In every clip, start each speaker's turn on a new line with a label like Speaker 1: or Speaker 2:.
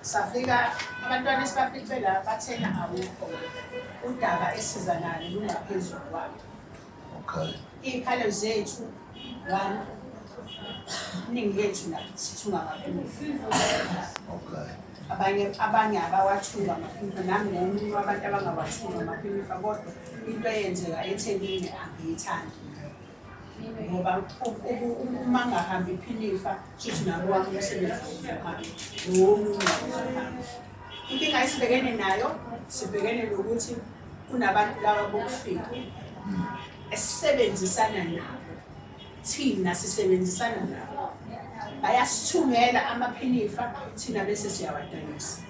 Speaker 1: safika abantwana esibafice la bathena awukho udaba esiza nalo lungaphezulu kwabo okay
Speaker 2: iy'khalo
Speaker 1: zethu one iningi lethu la sithunga kakhulu okay abanye
Speaker 2: abanye
Speaker 1: abawathunga amaphimbo nami ngomunye wabantu abangawathunga amaphimbo kodwa into eyenzeka ethenini angiyithandi ngoba uma ngahambi iphinifa shuthi nabo wami umsebenzi wokuhamba nowomunye inkinga esibhekene nayo sibhekene nokuthi kunabantu laba bokufika esisebenzisana nabo thina sisebenzisana nabo bayasithungela amaphinifa thina bese siyawadayisa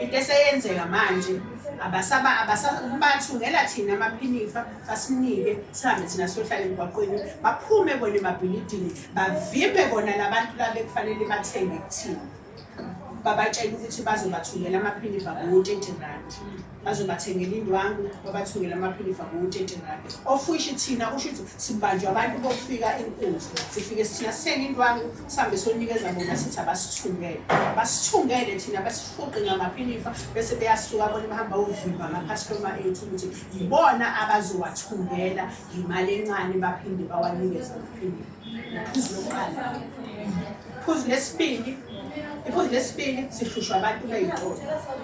Speaker 1: into eseyenzeka manje abasaba abasakubathungela thina amaphinifa basinike sihambe thina siyohlala emgwaqweni baphume bona emabhilidini bavimbe bona labantu labe kufanele bathenge kuthina babatshela ukuthi bazobathungela amaphinifa ngo-twenty rand bazobathengela indwangu babathungele amaphinifa ngo-thirty rand of which thina kusho ukuthi sibanjwa abantu bokufika inkunzi sifike sithina sithenge indwangu sihambe sonikeza bona sithi abasithungele basithungele thina basifuqe ngamaphinifa bese beyasuka bona bahamba ovimba amaphastoma ethu ukuthi yibona abazowathungela yimali encane baphinde bawanikeze amaphinifa Iphuzu lesibili iphuzu lesibili sihlushwa abantu bey'tolo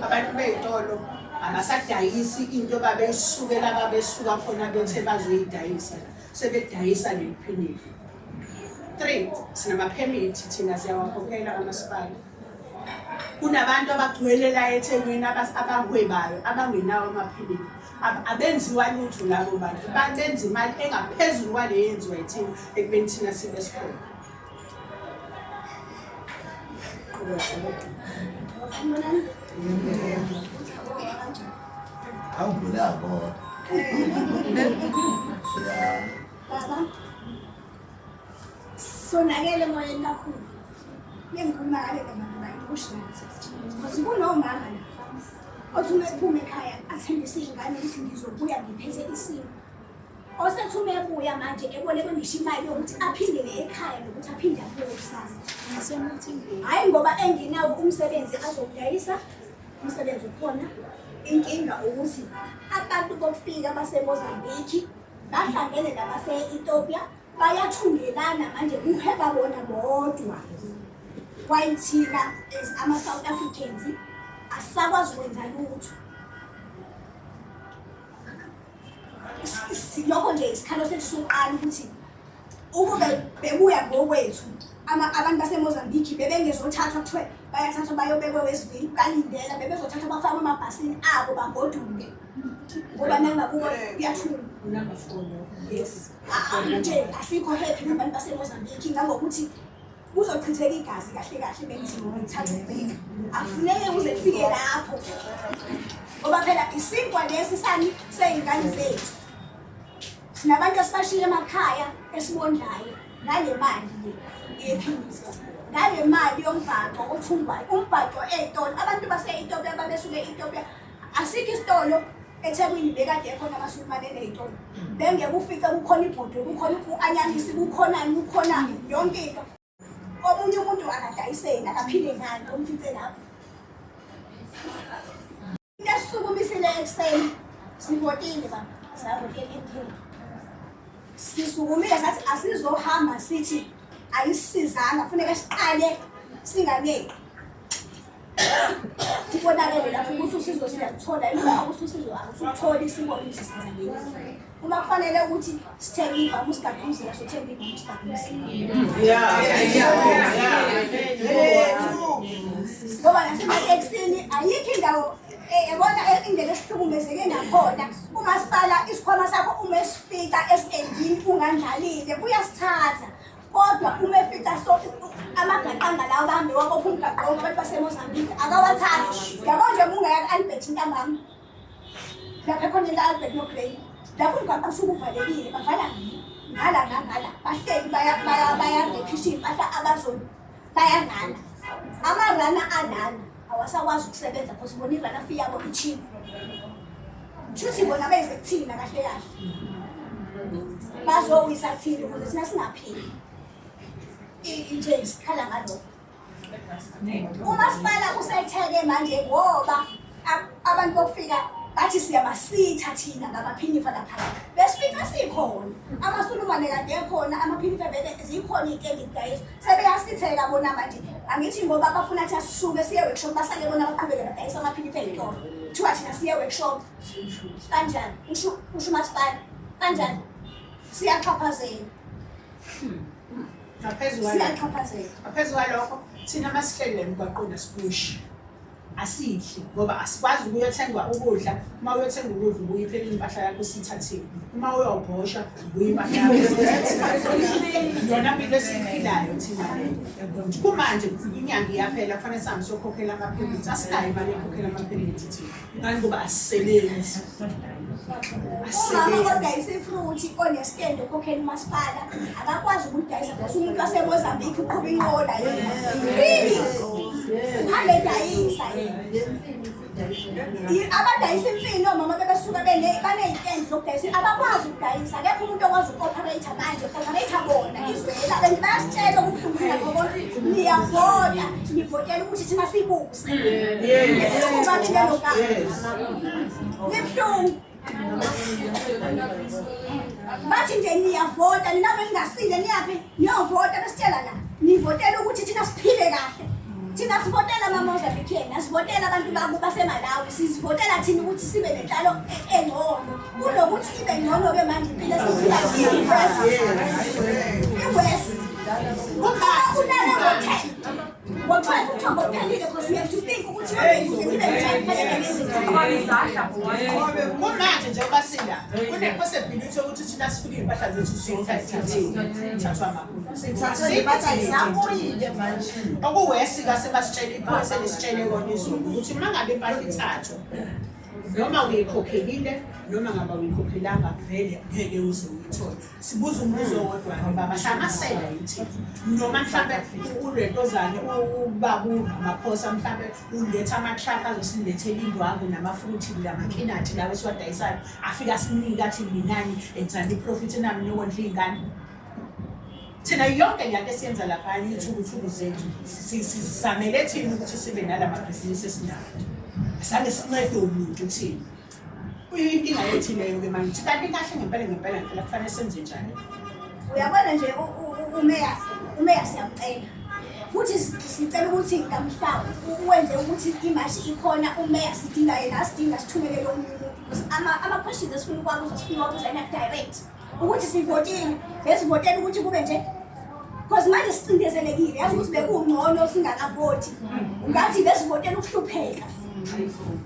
Speaker 1: abantu bey'tolo abasadayisi into babeyisukela babesuka khona bethe bazoyidayisa sebedayisa leliphilile three sinamaphemithi thina siyawakhokhela amasipala kunabantu abagcwele la ethekwini abahwebayo abangenawo amaphilisi abenziwa lutho labo bantu benza imali engaphezulu kwale yenziwa yithina ekubeni thina sibe sikhona
Speaker 3: sonakele emoyeni kakhulu bengikhuluma kale kabantu bayikusho ukuthi kunomama la othi uma ephuma ekhaya athembise izingane ukuthi ngizobuya ngiphethe isimo osethume ebuya manje ebolekwe ngisho imali yokuthi aphindele ekhaya nokuthi aphinde abuye kusasa hhayi ngoba engenawo umsebenzi azokudayisa umsebenzi ukhona inkinga ukuthi abantu bokufika basemozambiki bahlangene nabase-ethiopia bayathungelana manje kuheba bona bodwa kwayithina as ama-south africans asisakwazi ukwenza lutho lokho nje isikhalo sethu sokuqala ukuthi ukube bekuya ngokwethu abantu basemozambiki bebengezothathwa kuthiwe bayathathwa bayobekwe wesivili balindela bebezothathwa bafakwe emabhasini abo bagoduke ngoba nangakubo kuyathula yes nje asikho happy nabantu basemozambiki ngangokuthi kuzochitheka igazi kahle kahle bengithi ngoba ngithatha ukubheka akufuneke kuze kufike lapho ngoba phela isinkwa lesi sani sey'ngane zethu sinabantu esibashile emakhaya esibondlayo ngale mali le yephilisa ngale mali yombhaco othungwayo umbhaco ey'tolo abantu base-etopia babesuke e-etopia asikho isitolo ethekwini bekade ekhona abasukumane eney'tolo bengeke ufice kukhona ibhodwe kukhona u-anyanisi kukhonani kukhona yonke into omunye umuntu akadayiseni akaphile ngani omfice lapho into esisukumisile ekuseni sivotile baba savotile emthini sisukumile sathi asizohamba sithi ayisisizanga funeka siqale singaneki kubonakele lapho ukuthi usizo siyaluthola uma ukuthi usizo akusutholi isibone ukuthi senza ngenye uma kufanele ukuthi sithenge ivama usigade umzila sothenga ivama usigade umzila ngoba nasematekisini ayikho indawo eh, yabona eh, indlela esihlukumezeke ngakhona umasipala isikhwama sakho uma esifica esitendini ungandlalile kuyasithatha kodwa uma efica so amagaqanga lawo bahambe wabopha umgaqo wonke abantu basemozambique akawathathi yabo nje mungaya ku-albert intambama lapha khona into albert nogrey lapho umgaqo usuke uvalekile bavala ngala nangala bahleli bayarephisha iy'mpahla abazona bayangala amarana anana awasakwazi ukusebenza because bona iranafi yabo icheap shuthi bona beze kuthina kahle kahle bazowisa thina ukuze thina singaphili into esikhala ngalokho umasipala usetheke manje ngoba abantu bokufika bathi siyabasitha thina ngamaphinifa laphaya besifica sikhona amasulumane kade ekhona amaphinifa vele zikhona iy'tendidayisa sebeyasitheka bona manje angithi ngoba bafuna athi asisuke siye workshop basale bona baqhubeke badayisa amaphiliphi eyitolo kuthiwa thina siye workshop kanjani usho umasipala kanjani siyaxhaphazela ngaphezu
Speaker 1: kwalokho thina masihlele emgwaqweni asibushi asidli ngoba asikwazi ukuyothengwa ukudla uma uyothenga ukudla ubuye iphele impahla yakho sithathiwe uma uyobhosha ubuye impahla yakho yona mpilo esiyiphilayo thina kumanje inyanga iyaphela kufanele sihambe siyokhokhela amaphemithi asinayo imali yokhokhela amaphemithi thina ngani ngoba asisebenzi Umama
Speaker 3: odayisa ifruthi onestendo okhokhela umasipala akakwazi ukudayisa because umuntu wasemozambique uqhuba inqola really uhambe edayisa abadayisa imfino omama bebesuka baneyitendi zokudayisa abakwazi ukudayisa akekho umuntu okwazi uku-operator manje operator bona izwela and bayasitshela ukuhlungula ngoba niyavota nivotela ukuthi thina sibuze bathi nje niyavota nina beningasile niyaphi niyovota besitshela la nivotela ukuthi thina siphile kahle thina sivotela mamozambican asivotela abantu baku basemalawi sizivotela thina ukuthi sibe nenhlalo engcono kunokuthi ibe ngcono-ke manje impilo esiphila iwest uma unale ngo-ten
Speaker 1: kumanje nje ubasila kune-possibility yokuthi thina sifike iy'mpahla zethu siyithathile manje okuwesi kase basitshele iphoyisa lisitshele kona izulu ukuthi uma ngabe impahla ithathwa noma uyikhokhelile noma ngaba uyikhokhelanga vele ngeke uze uyithole sibuza umbuzo wodwa-ke baba hlamasela yithi noma mhlawumbe uretozane ubabunga amaphosa mhlawumbe uletha ama-truck azosilethela indwangu namafruthi namakhinati lawo esiwadayisayo afike asinike athi minani enzani iprofit nami niyokondla iy'ngane thina yonke lento esiyenza lapha yithukuthuku zethu sizamele thina ukuthi sibe nala mabhizinisi esinawo asange sincede umuntu thina Uyinkinga yethileyo ke manje. Kanti kahle ngempela ngempela ngempela kufanele senze njani? Uyabona
Speaker 3: nje umeya umeya siyamcela. Futhi sicela ukuthi kamhlawumbe uwenze ukuthi imashi ikhona umeya sidinga yena asidinga sithumele lo muntu. Ama ama questions esifuna ukwazi sifuna ukuzana direct. ukuthi sivotile besivotela ukuthi kube nje because manje sicindezelekile yazi ukuthi bekungcono singakavoti ngathi besivotela ukuhlupheka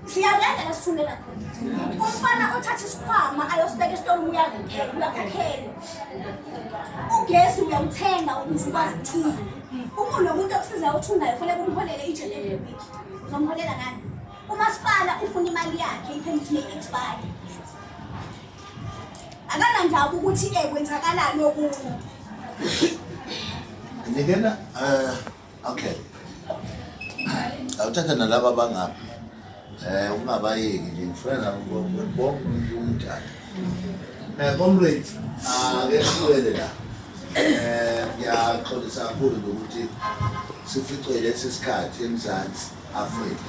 Speaker 3: siyalenda la sithundela khona umfana othatha isikhwama ayosibeka esitolo uyakuphela uyakhakhela ugesi uyawuthenga ukuze ukwazi ukuthunga umuntu nomuntu okusizayo uthungayo kufanele kumholele ijele every week uzomholela ngani umasipala ufuna imali yakhe iphemithini ye-expire akanandaba ukuthi um kwenzakalani okunye
Speaker 2: ngikena um okay awuthatha nalaba bangaphi um ungabayeki nje ngifuna nabo bonke umuntu umdala um comrade akehlulele la eh ngiyaxolisa kakhulu ukuthi sificwe lesi sikhathi eMzansi Afrika